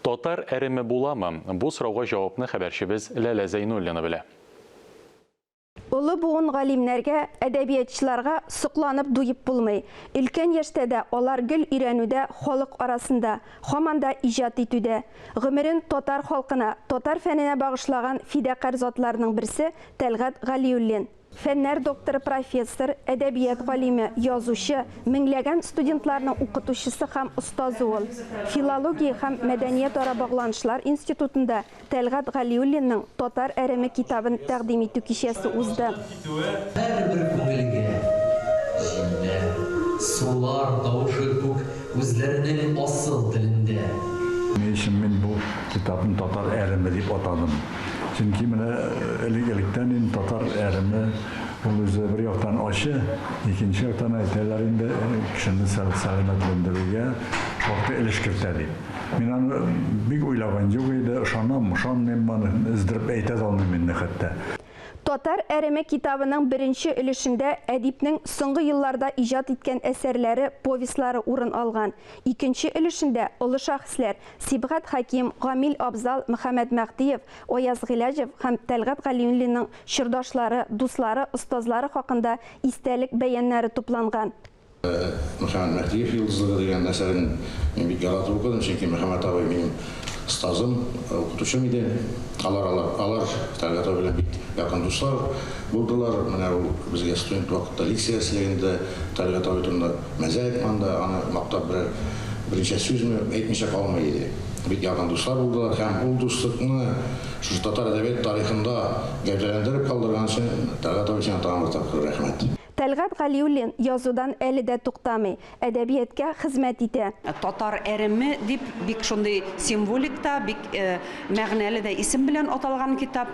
Татар әреме буламы? Бу сорауга җавапны хәбәрчебез Ләлә Зәйнуллина белә. Олы буын галимнәргә, әдәбиятчыларга сокланып дуеп булмый. Өлкән яшьтә дә алар гел өйрәнүдә, халык арасында, һаман да иҗат итүдә. Гомерен татар халкына, татар фәненә багышлаган фидакарь затларның берсе, Тәлгать Галиуллин. Фәннәр докторы, профессор, әдәбият галиме, язучы, меңләгән студентларның укытучысы һәм остазы ул. Филология һәм мәдәниятара багланышлар институтында Тәлгать Галиуллинның Татар әреме китабын тәкъдим итү кичәсе узды. Һәрбер күңелгә җилләр, сулар тавышы күк. Үзләренең асыл телендә. Ни өчен мин бу китапны Татар әреме дип атадым? Чөнки менә элек-электән инде татар әреме, ул үзе бер яктан ачы, икенче яктан әйтәләр инде, кешене сәламәтләндерүгә шактый өлеш кертә дип. Мин аны бик уйлаган юк иде, ышанам, ышанмыйм, аны өздереп әйтә дә алмыйм инде хәтта. Татар әреме китабының беренче өлешендә әдипнең соңгы елларда иҗат иткән әсәрләре, повестьлары урын алган. Икенче өлешендә олы шәхесләр, Сибгат Хәким, Гамил Абзал, Мөхәммәд Мәһдиев, Аяз Гыйләҗев һәм Тәлгать Галиуллинның чордашлары, дуслары, остазлары хакында истәлек бәяннәре тупланган. Мөхәммәт Мәһдиев йолдызлыгы дигән әсәрен мин бик яратып укыдым, чөнки Мөхәммәт абый минем остазым, укытучым иде. Алар алар Тәлгать абый белән бик якын дуслар булдылар. Менә ул безгә студент вакытта лекция ясыйлегендә Тәлгать абый турында мәзә айтканда, аны мактап берәр берничә сүзме әйтмичә калмый иде. Бик якын дуслар булдылар һәм ул дуслыкны шушы татар әдәбият тарихында гәүдәләндереп калдырган өчен Тәлгать абый сиңа тагын бер тапкыр рәхмәт. Тәлгать Галиуллин язудан әле дә туктамый, әдәбияткә хезмәт итә. Татар әреме дип бик шундый символик та, бик мәгънәле дә исем белән аталган китап.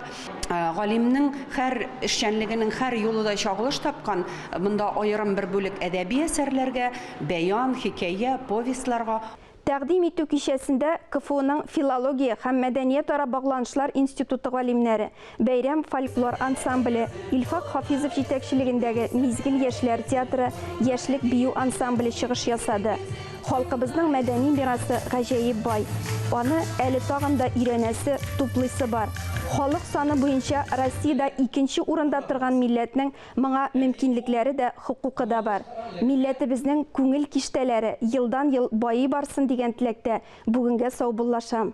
Галимнең һәр эшчәнлегенең һәр юлы да чагылыш тапкан. Монда аерым бер бүлек әдәби әсәрләргә, бәян, хикәя, повестьларга. Тәкъдим итү кичәсендә КФУның филология һәм мәдәниятара багланышлар институты галимнәре, Бәйрәм фольклор ансамбле, Илфак Хафизов җитәкчелегендәге Мизгел яшьләр театры яшьлек бию ансамбле чыгыш ясады. Халкыбызның мәдәни мирасы гаҗәеп бай. Аны әле тагын да өйрәнәсе, туплыйсы бар. Халык саны буенча Россиядә икенче урында торган милләтнең Моңа мөмкинлекләре дә, хокукы да бар. Милләтебезнең күңел киштәләре елдан-ел байый барсын дигән теләктә бүгенгә саубуллашам.